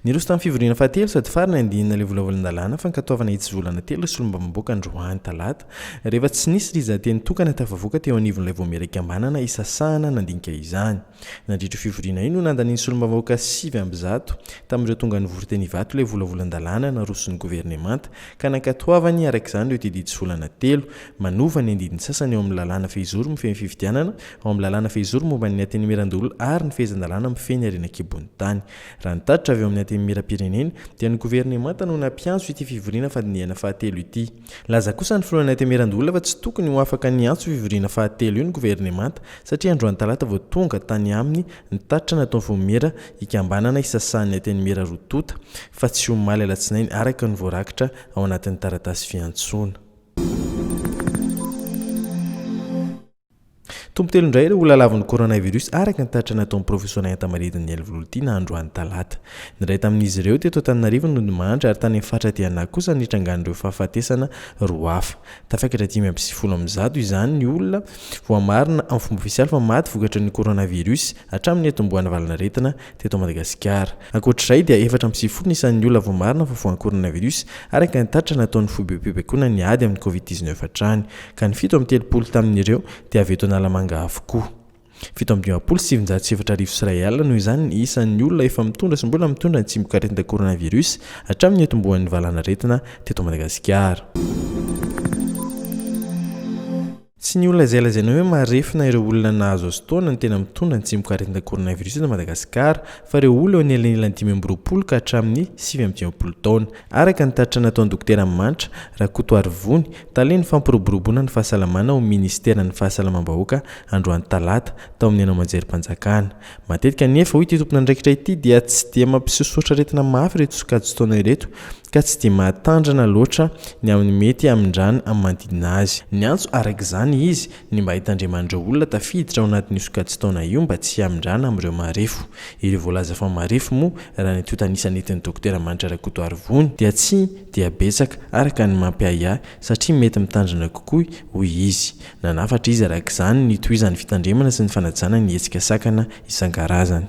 Niroso tamin'ny fivoriana fahatelo sady farany andinina ilay volavolan-dalàna fankatoavana hitsovolana telo ireo solombavambahoaka androany talata, rehefa tsy nisy riza-teny tokana tafavoaka teo anivon'ilay voamiera ikambanana hisasahana nandinika izany. Nandritra io fivoriana io no nandanian'ny solombavambahoaka sivy amby zato tamin'ireo tonga nivory teny Ivato ilay volavolan-dalàna naroson'ny governemanta ka nankatoavany araka izany ireo tetidisolana telo manova ny andininy sasany ao amin'ny lalàna fehizoro mifehy ny fifidianana, ao amin'ny lalàna fehizoro momba ny Antenimierandoholona ary ny fehezan-dalàna mifehy ny harena an-kibon'ny tany. Raha ny tatitra avy ao amin'ny Antenimierampirenena dia ny governemanta no nampiantso ity fivoriana fandinihana fahatelo ity. Nilaza kosa ny filoha Nate Mirandola fa tsy tokony ho afaka ny hiantso io fivoriana fahatelo io ny governemanta satria androany talata vao tonga tany aminy ny tatitra nataon'ny Fomera hikambanana hisasahan'ny Antenimiera roa tonta fa tsy omaly alatsinainy araka ny voarakitra ao anatin'ny taratasy fiantsoana. Tompo telo indray ireo olona lavin'ny coronavirus araka ny tatitra nataon'ny Profesoa Nayanta Maridiny Nialivolotiana androany talata. Ny iray tamin'izy ireo teto Antananarivo no nodimandry ary tany amin'ny faritra Diana kosa no nitrangan'ireo fahafatesana roa hafa. Tafaikatra dimy amby sivifolo amby zato izany ny olona voamarina amin'ny fomba ofisialy fa maty vokatry ny coronavirus hatramin'ny niatombohan'ny valanaretina teto Madagasikara. Ankoatr'izay dia efatra amby sivifolo ny isan'ny olona voamarina fa voan'ny coronavirus araka ny tatitra nataon'ny foibem-pibaikoana ny ady amin'ny covid dix-neuf hatrany, ka ny fito amby telopolo tamin'ireo dia avy eto Analamanga avokoa. Fito amby dimampolo sy sivinjato sy efatra arivo sy iray alina noho izany ny isan'ny olona efa mitondra sy mbola mitondra ny tsimokaretina coronavirus hatramin'ny niatombohan'ny valanaretina teto Madagasikara. Tsy ny olona izay lazaina hoe marefona ireo olona nahazo azotaona no tena mitondra ny tsimokaretina coronavirus eto Madagasikara fa ireo olona eo anelanelan'ny dimy amby roapolo ka hatramin'ny sivy amby dimampolo taona, araka ny tatitra nataon'ny Dokotera Manitra Rakotoarivony, talen'ny fampiroboroboana ny fahasalamana ao amin'ny Minisiteran'ny Fahasalamam-bahoaka androany talata, tao amin'ny haino aman-jerim-panjakana. Matetika anefa, hoy ity tompon'andraikitra ity, dia tsy dia mampisosotra aretina mafy ireto sokajin-taona ireto, ka tsy dia mahatandrina loatra ny amin'ny mety hamindràna amin'ny manodidina azy. Niantso araka izany izy ny mba hitandreman'ireo olona tafiditra ao anatin'io sokajin-taona io mba tsy hamindràna amin'ireo marefo. Ireo voalaza fa marefo moa, raha ny tontanisa nentin'ny Dokotera Manitra Rakotoarivony, dia tsy dia betsaka araka ny mampiahiahy, satria mety mitandrina kokoa, hoy izy. Nanafatra izy araka izany ny tohizan'ny fitandremana sy ny fanajana ny hetsika sakana isan-karazany.